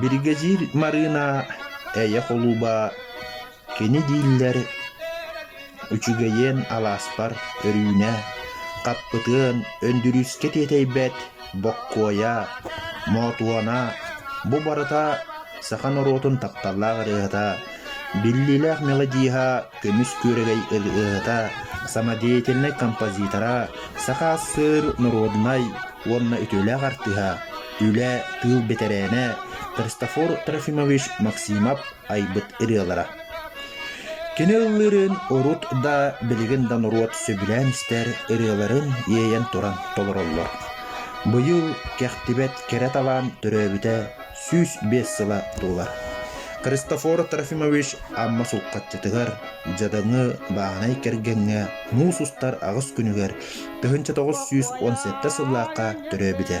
Биргэдьиир Марыына Эйэ холууба кини дииллэр үчүгэйиэн алааспар өрүүнэ хаппытыан Өндүрүүскэ тиэтэйбэт Боккуойа, Моотуона бу барыта саха норуотун тапталлаах ырыаһыта, биллиилээх мелодиһа Көмүс күөрэгэй ырыаһыта, самодеятельнай композитора, саха сыр норуодунай уонна үтүөлээх артыыһа, үлэ, тыыл бэтэрээнэ Христофор Трофимович Максимов айбыт ырыалара. Кини ыллыырын урут да, билигин да норуот сөбүлээн истэр ырыаларын иэйэн туран толороллор. Быйыл кэхтибэт кэрэ талаан төрөөбүтэ сүүс биэс сыла туолар. Христофор Трофимович Амма Сулхаччытыгар, Дьадаҥы бааһынай кэргэҥҥэ муус устар аҕыс күнүгэр тыһыынча тоҕус сүүс уон сэттэ сыллаахха төрөөбүтэ.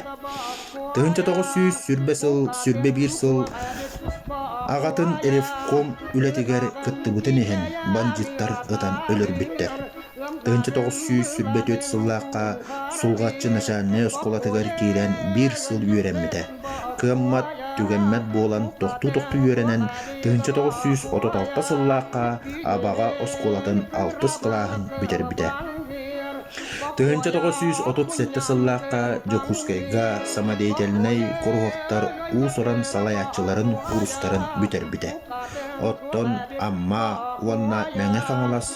Тыһыынча тоҕус сүүс сүрбэ сыл, сүрбэ биир сыл аҕатын ревком үлэтигэр кыттыбытын иһин бандьыыттар ытан өлөрбүттэр. Ынча тоҕус сүүс сүүрбэ түөрт сыллаахха Сулҕаччы начальнай оскуолатыгар киирэн биир сыл үөрэммитэ. Кыаммат, түгэммэт буолан тохтуу-тохтуу үөрэнэн тыһыынча тоҕус сүүс отут алта сыллаахха Абаҕа оскуолатын алтыс кылааһын бүтэрбитэ. Тыһыынча тоҕус сүүс отут сэттэ сыллаахха Дьокуускайга самодеятельнай куруһуоктар уус-уран салайааччыларын курстарын бүтэрбитэ. Оттон Амма уонна Мэҥэ Хаҥалас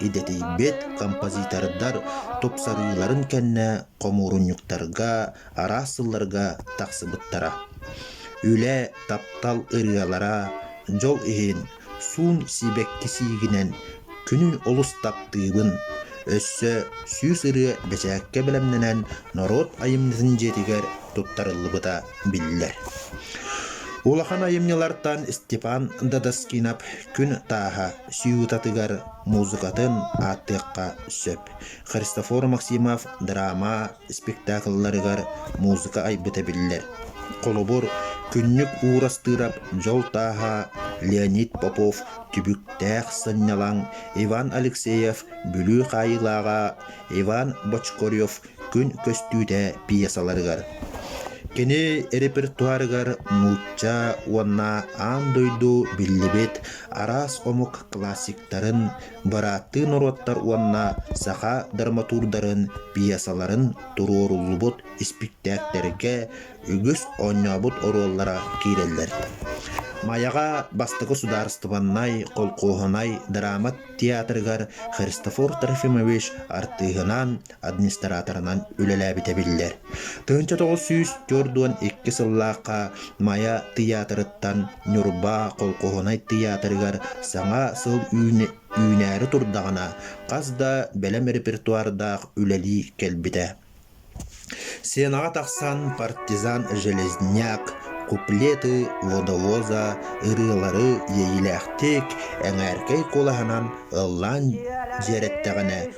идэтийбит композитордар тупсарыыларын кэннэ хомуурунньуктарга араас сылларга тахсыбыттара. Үлэ, таптал ырыалара, дьол иһин, суун сибэкки сиигинэн күнүн олус таптыыбын. Өссө сүүс ырыа бэчээккэ бэлэмнэнэн норуот айымньытын дьиэтигэр туттарыллыбыта биллэр. Улахан айымньылартан Степан Додаскинов күн тааһа сюитатыгар музыкатын ааттыахха сөп Христофор Максимов драма спектакльларыгар музыка айбыта биллэр. Холобур, Күннүк Уур Астырап, Дьол Тааһа, Леонид Попов, Түбүктээх Сынньалаҥ, Иван Алексеев, Бүлүү Хаайыылааҕа, Иван Бочкорев күн көстүүтэ пьесаларыгар, кини репертуарыгар нуучча уонна аан дойду биллибит араас омук классиктарын, бырааттыы норуоттар уонна саха драматурдарын пьесаларын туруоруллубут испиктээктэргэ үгүс оонньообут оруоллара киирэллэр. Майаҕа бастакы судаарыстыбаннай холкуоһунай драма театрыгар Христофор Трофимович артыыһынаан администраторынан үлэлээбитэ биллэр. Тыһыынча тоҕус сүүс төрт уон икки сыллаахха Майа тыйаатырыттан Ньурба колхоһунай тыйаатырыгар саҥа сыл үүнээри турдаҕына, хас да бэлэм репертуардаах үлэлии кэлбитэ. Сенаҕа тахсан партизан Железняк, куплеты водовоза ырыалары иэйиилээхтик, эҥээркэй куолаһынан ыллаан дьиэрэттэҕинэ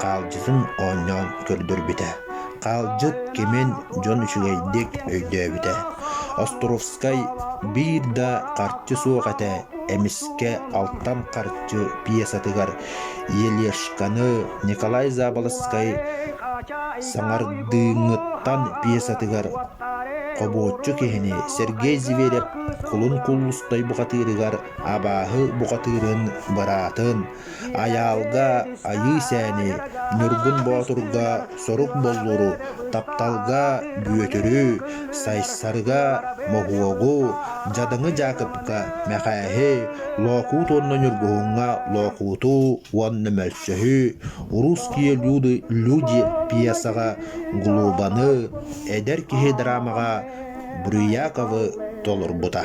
хаалдьытын оонньоон көрдөрбүтэ. Хаалдьыт кимин дьон үчүгэйдик өйдөөбүтэ. Островскай биир да харчы суох этэ эмискэ алтан харчы пьесатыгар Елешканы Николай Заболоцкай саҥардыыҥҥыттан пьесатыгар хобуоччу киһини Сергей Зверев кулун кулустай бухатыырыгар абааһы бухатыырын быраатын Айаалга Айыы-сээни, Ньургун Боотурга сорук буллуру, тапталга Бүөтүрү, Сайсарыга Моһуогу, Дьадаҥы Дьаакыпка Мэхээһи, Лоокуут уонна Ньургуһуҥҥа Лоокууту уонна Мөлсөһү, Русские люди, люди пьесаҕа Глобаны, эдэр киһи драмаҕа Брыяковы толорбута.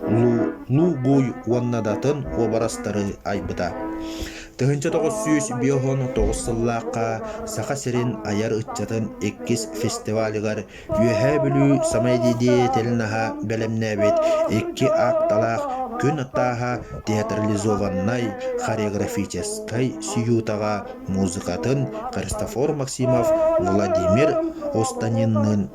Лу-Нугуй уонна датын уобарастары айбыта. Тыһыынча тоҕус сүүс биоһон тоҕус сыллаахха Саха сирин айар ыччатын иккис фестивалыгар Үөһээ Бүлүү самодеятельноһа бэлэмнээбит икки аакталаах күн атааһа театрализованнай хореографическай сюитаҕа музыкатын Христофор Максимов Владимир Останинныын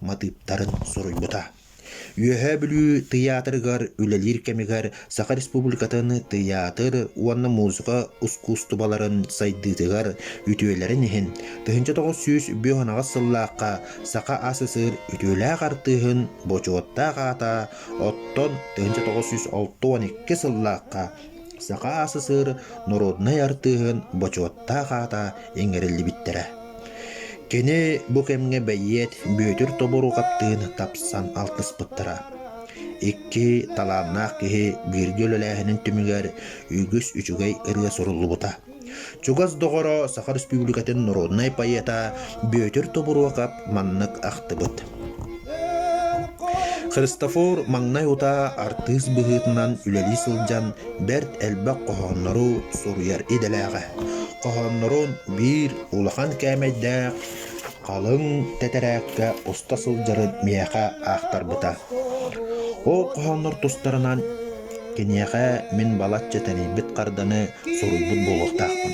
матыыптарын суруйбута. Үөһээ Бүлүү тыйаатырыгар үлэлиир кэмигэр Саха Республикатын тыйаатыр уонна музыка ускуустубаларын сайдыытыгар үтүөлэрин иһин тыһыынча тоҕус сүүс бүөһүнаҕас сыллаахха Саха СССР үтүөлээх артыыһын бочуоттаах аата оттон тыһыынча тоҕус сүүс алта уон икки сыллаахха Саха СССР норуодунай артыыһын бочуоттаах аата иҥэриллибиттэрэ. Кини бу кэмҥэ бэйиэт Бүөтүр тоборуо хаптыын тапсан алтыспыттара. Икки талааннаах киһи бииргэ үлэлээһинин түмүгэр үгүс үчүгэй ырыа суруллубута. Чугас доҕоро, Саха Республикатын норуодунай поэта Бүөтүр Тобуруокап маннык ахтыбыт. Христофор маҥнай утаа артыыс быһыытынан үлэлии сылдьан бэрт элбэх хоһооннору суруйар идэлээҕэ. Хоһооннорун биир улахан кээмэйдээх Халыҥ тэтэрээккэ уста сылдьарын миэхэ аахтарбыта. Ол хоһооннор тустарынан киниэхэ мин балачча тэнийбит харданы суруйбут буолуохтаахпын.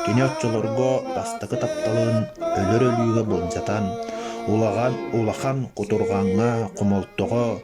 Кини оччолорго бастакы тапталын өлөр өлүүгэ былдьатан, улахан улахан кутурҕаҥҥа, хомолтоҕо,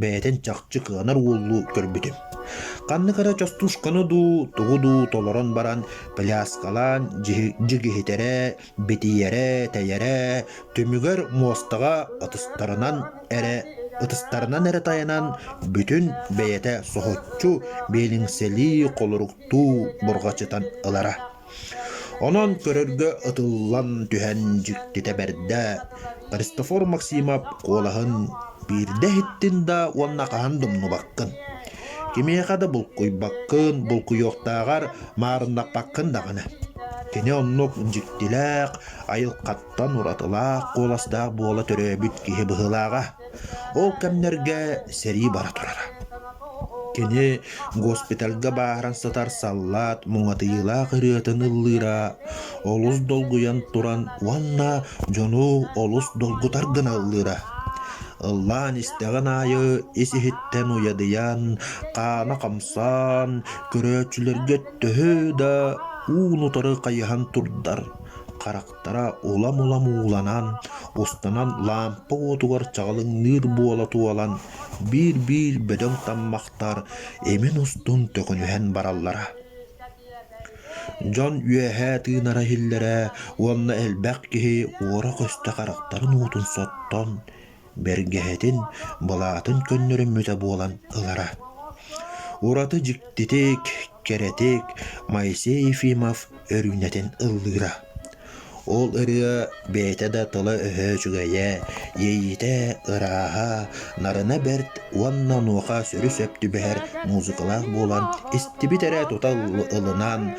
бэйэтин чахчы кыанар уоллуу көрбүтүм. Ханнык эрэ частушканы дуу, тугу дуу толорон баран пляскалаан дьигиһитэрэ, битийэрэ, тэйэрэ, түмүгэр муостаҕа ытыстарынан эрэ ытыстарынан эрэ тайанан бүтүн бэйэтэ соһуччу биэлиҥсэлии холоруктуу бурҕачытан ылара. Онон көрөргө ытыллан түһэн дьиктитэ бэрдэ Христофор Максимов куолаһын биирдэ иһиттин да уонна хаһан да умнубаккын. Кимиэхэ да булкуйбаккын, булкуйуохтааҕар маарыннаппаккын даҕаны. Кини оннук дьиктилээх, айылхаттан уратылаах куоластаах буола төрөөбүт киһи быһыылааҕа. Ол кэмнэргэ сэрии бара турара. Кини госпитальга бааһыран сытар саллаат муҥатыйыылаах ырыатын ыллыыра олус долгуйан туран уонна дьону олус долгутар гына ыллыыра. Ыллаан истэҕин аайы ис-иһиттэн уйадыйан, хаана хамсаан, көрөөччүлэргэ төһө да уун-утары хайыһан турдар харахтара Аттара улам-улам ууланан, устанан лаампа уотугар чаҕылыҥныыр буола туолан, биир-биир бөдөҥ таммахтар эмин устун төкүнүһэн бараллара. Дьон үөһээ тыынара иһиллэрэ уонна элбэх киһи уора көстө харахтарын уутун соттон, бэргэһэтин, былаатын көннөрүммүтэ буолан ылара. Ураты дьиктитик, кэрэтик Моисей Ефимов өрүүнэтин ыллыыра. Ол ырыа бэйэтэ да тыла-өһө үчүгэйэ, иэйиитэ ырааһа, нарына бэрт уонна онуоха сүрү сөп түбэһэр музыкалаах буолан истибит эрэ тута ылынан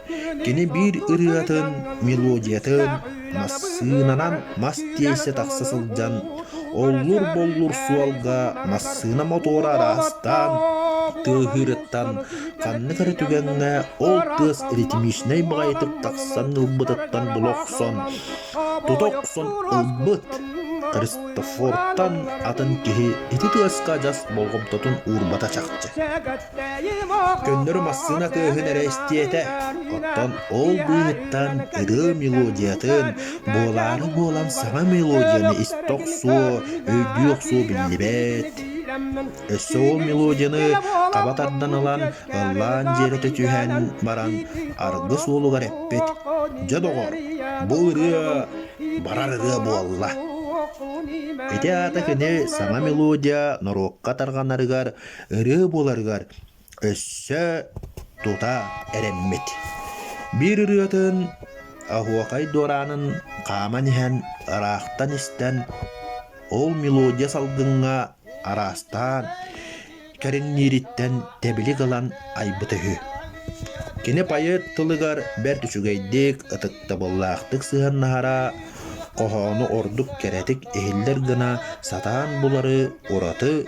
Кини биир ырыатын, мелодиятын массыынанан мас тиэйсэ тахса сылдьан, оллур-боллур суолга массыына мотуора араастаан тыаһыырыттан ханнык эрэ түгэҥҥэ ол тыас ритмичнэй баҕайытык тахсан ылбытыттан була охсон, тута охсон ылбыт. Христофортан атын киһи ити тыаска адьас болҕомтотун уурбата чахчы. Көннөрү массыына тыаһын эрэ истиэтэ, оттон ол быыһыттан ырыа мелодиятын, буолаары буолан саҥа мелодияны истэ охсуо, өйдүү охсуо биллибэт. Өссө ол мелодияны хаба тардан ылан, ыллаан дьиэрэтэ түһэн баран, аргы суолугар эппит: «Дьэ, доҕор, бу ырыа барар ырыа буолла». Ити аата кини саҥа мелодия норуокка тарҕанарыгар ырыа буоларыгар өссө тута эрэммит. Биир ырыатын Оһуокай Дуораанын хааман иһэн, ыраахтан истэн, ол мелодия салгыҥҥа араастаан кэриҥниириттэн тэбилик ылан айбыта үһү. Кини поэт тылыгар бэрт үчүгэйдик, ытыктабыллаахтык сыһыаннаһара, хоһоону ордук кэрэтик иһиллэр гына сатаан булары ураты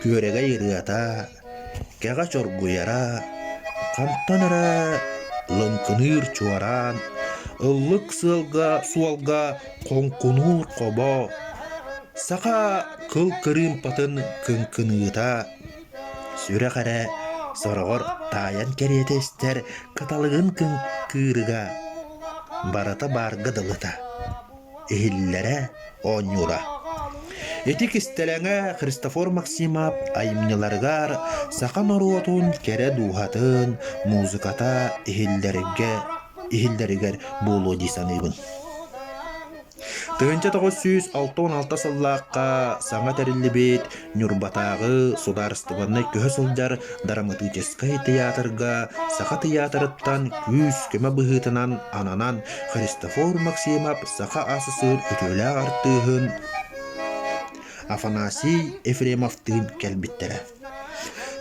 Күөрэгэй ырыата, кэҕэ чоргуйара, хантан эрэ лыҥкыныыр чуораан, ыллык сыалга суолга хоҥкунуур хобо, саха кыл кырыымпатын кыҥкыныыта, сүрэх эрэ сороҕор таайан кэриэтэ истэр кыталыгын кыҥкыырыга, барыта баарга дылыта. иһиллэрэ оонньуура. Ити кистэлэҥэ Христофор Максимов айымньыларыгар саха норуотун кэрэ дууһатын музыката иһиллэргэ иһиллэригэр буолуо дии саныыбын. Тыһыынча тоҕус сүүс алта уон алта сыллаахха саҥа тэриллибит Ньурбатааҕы судаарыстыбаннай көһө сылдьар драматическай тыйаатырга саха тыйаатырыттан күүс-көмө быһыытынан ананан Христофор Максимов саха ас-сыыр үтүөлээх артыыһын Афанасий Ефремовтыын кэлбиттэрэ.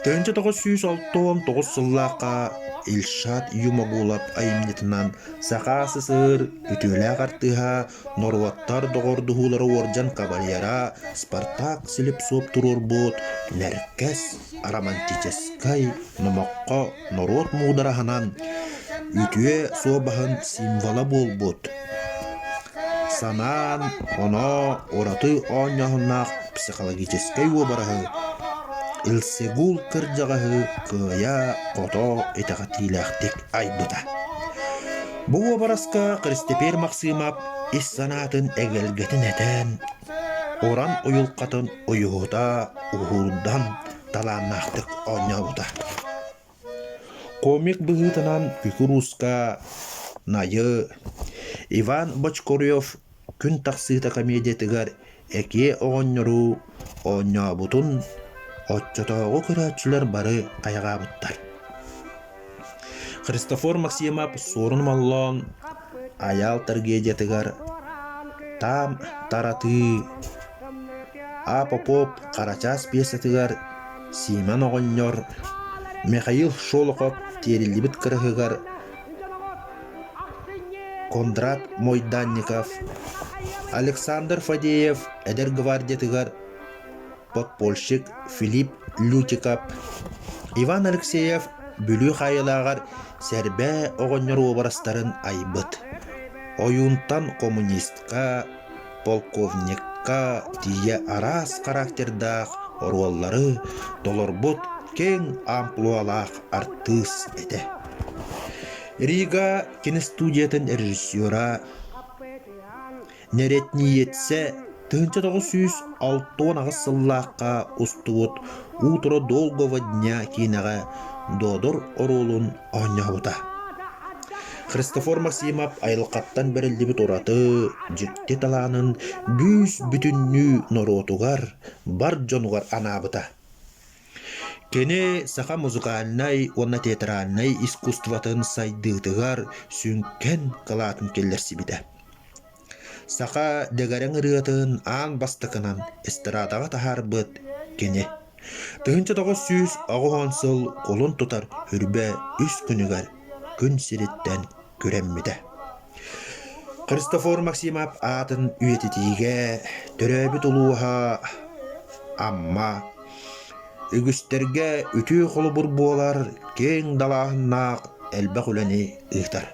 1909 сыллаахха Ильшат Юмагулов айымньытынан саха ас-сыыр үтүөлээх артыыһа Норуоттар доҕордоһуулара уордьан кавалера, Спартак-Слепцов туруорбут Нэркэс романтическай номоххо норуот муудараһынан үтүө суобаһын символа буолбут санаан-оноо ураты оонньооһуннаах психологическай уобараһы Илсегул кырдьаҕаһы кыайа-хото итэҕэтиилээхтик айбыта. Бу уобараска Христэпиэр Махсыымап ис санаатын эгэлгэтин этэн, уран уйулҕатын уйуһута, уһуурдан талааннаахтык оонньообута. Комик быһыытынан кукурузка, найы, Иван Бочкурев Күн тахсыыта комедиятыгар Экээ оҕонньору оонньообутун оччотооҕу көрөөччүлэр бары хайҕаабыттар. Христофор Максимов Суорун Моллоон Айаал трагедиятыгар Таам таратыы А Попов Харачаас пьесатыгар Симон оҕонньор Михаил Шолохов Тиэриллибит кыраһыгар Кондрат Мойданников, Александр Фадеев эдэр гвардиятыгар подпольщик Филипп Лютиков, Иван Алексеев Бүлүү хаайылааҕар Сэрбээ оҕонньор уобарастарын айбыт, ойуунтан коммунистка, полковникка тиийэ араас характердаах оруоллары толорбут киэҥ амплуалаах артыыс этэ. Рига киностудиятын режиссера, нэрэтнииэтсэ тыһыынча тоҕус сүүс алта уон аҕыс сыллаахха устубут «Утро долгого дня» киинэҕэ Додор оруолун оонньообута. Христофор Максимов айылҕаттан бэриллибит ураты, дьикти талаанын бүүс-бүтүннүү норуотугар, бар дьонугар анаабыта. Кини саха музыкальнай уонна театральнай искусствотын сайдыытыгар сүҥкэн кылаатын киллэрсибитэ. Саха дэгэрэҥ ырыатын аан бастакынан эстрадаҕа таһаарбыт кини. Тыһыынча тоҕус сүүс оҕуһун сыл кулун тутар үрбэ үс күнүгэр күн сириттэн күрэммитэ. Христофор Максимов аатын үйэтитиигэ төрөөбүт улууһа Амма үгүстэргэ үтүө холобур буолар киэҥ далааһыннаах элбэх үлэни ыытар.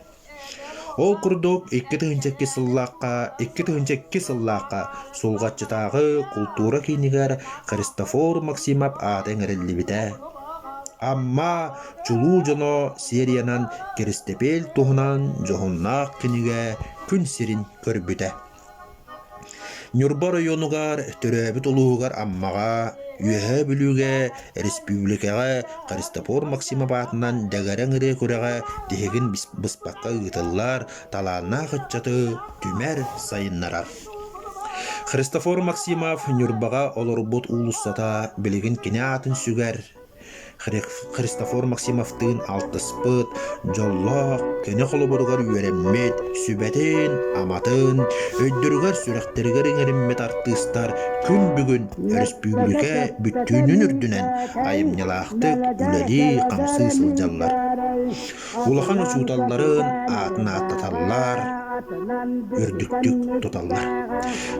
Ол курдук, икки тыһыынча икки сыллаахха икки тыһыынча икки сыллаахха Сулҕаччытааҕы култуура киинигэр Христофор Максимов ааты эҥэриллибитэ. Амма чулуу дьоно сериянан Кэристэпиэл туһунан дьоһуннаах кинигэ күн сирин көрбүтэ. Ньурба оройуонугар төрөөбүт улууһугар Аммаҕа, Үөһээ Бүлүүгэ, республикаҕа Христофор Максимов аатынан Дэгэрэҥ ырыа күрэҕэ тиһигин быспакка ыытыллар талааннаах ыччаты түмэр, сайыннарар. Христофор Максимов Ньурбаҕа олорбут уулуссата билигин кини аатын сүгэр, Христофор Максимовтыын алтыспыт, дьоллоох, көнө холобуругар үөрэммит, сүбэтин, аматын өйдөрүгэр-сүрэхтэригэр иҥэриммит артыыстар күн бүгүн өрөспүүбүлүкэ бүттүүнүн үрдүнэн айымньылаахтык үлэлии-хамсыы сылдьаллар. улахан учууталларын аатын ааттаталлар, үрдүктүк туталлар.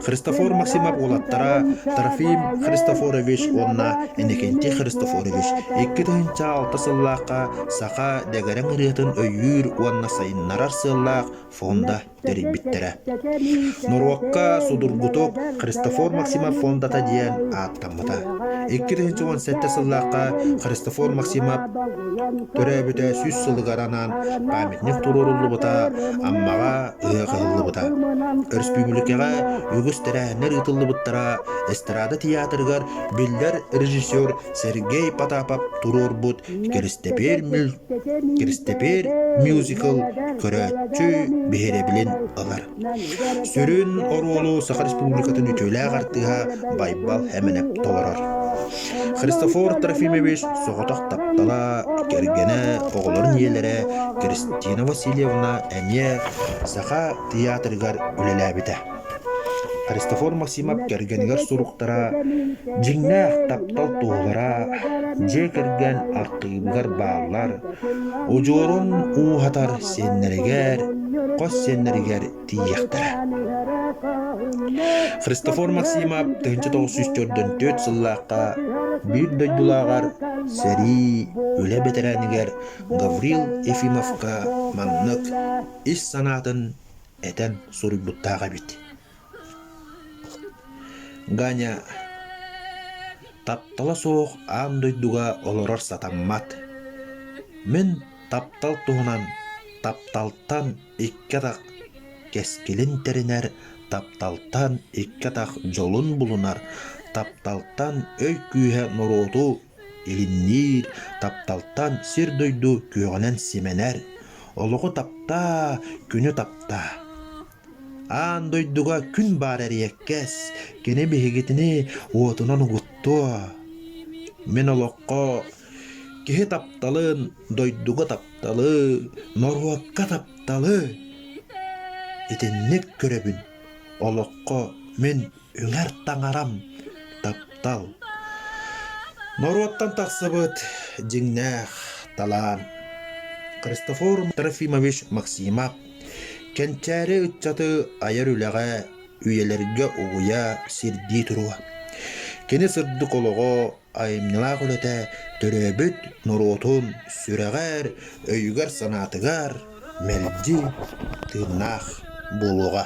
Христофор Максимов уолаттара Трофим Христофорович уонна Иннокентий Христофорович икки тыһыынча алта сыллаахха саха дэгэрэҥ ырыатын өйүүр уонна сайыннарар сыаллаах фонда тэрийбиттэрэ. Норуокка судургутук Христофор Максимов фондата диэн ааттаммыта. Икки тысяча уон сэттэ сыллаахха Христофор Максимов төрөөбүтэ сүүс сылыгар анаан памятник туруоруллубута, Аммаҕа ыһыах ыһыллыбыта. Өрөспүүбүлүкэҕэ үгүс тэрээһиннэр ыытыллыбыттара, эстрада театрыгар биллэр режиссер Сергей Потапов туруорбут Киристэпиэр мюль Киристэпиэр мюзикл көрөөччү биһирэбилин ылар. Сүрүн оруолу Саха Республикатын үтүөлээх артыыһа Байбал Хэмэнэп толорор. Христофор Трофимович соҕотох таптала, кэргэнэ, оҕолорун ийэлэрэ Кристина Васильевна эмиэ Саха тыйаатырыгар үлэлээбитэ. Христофор Максимов кэргэнигэр суруктара, дьиҥнээх таптал туоһулара, дьиэ кэргэн архыыбыгар бааллар, удьуорун ууһатар сиэннэригэр, хос сиэннэригэр тиийиэхтэрэ. Христофор Максимов тыһыынча тоҕус сүүс төрдөн түөрт сыллаахха биир дойдулааҕар сэрии үлэ бэтэрээнигэр Гаврил Ефимовка маннык ис санаатын этэн суруйбуттаах эбит Ганя таптала суох аан дойдуга олорор сатаммат. Мин таптал туһунан тапталтан икки атах кэскилин тэринэр, тапталтан икки атах дьолун булунар, тапталтан өй күүһэ норуоту Иһинниир тапталтан сир-дойду күөҕүнэн симэнэр, олоҕу таптаа, күнү таптаа. Аан дойдуга күн баар эриэккэс, кини биһигитини уотунан угуттуо. Мин олоххо киһи тапталын, дойдуга тапталы, норуокка тапталы итинник көрөбүн. Олоххо мин Ылар таҥарам таптал. Норуоттан тахсыбыт дьиҥнээх талаан. Христофор Трофимович Максимов Кэнчээри ыччаты айар үлэҕэ, үйэлэргэ угуйа, сирдии туруо. Кини сырдык олоҕо, айымньылаах үлэтэ төрөөбүт норуотун сүрэҕэр, өйүгэр-санаатыгар мэлдьи тыыннаах буолуоҕа.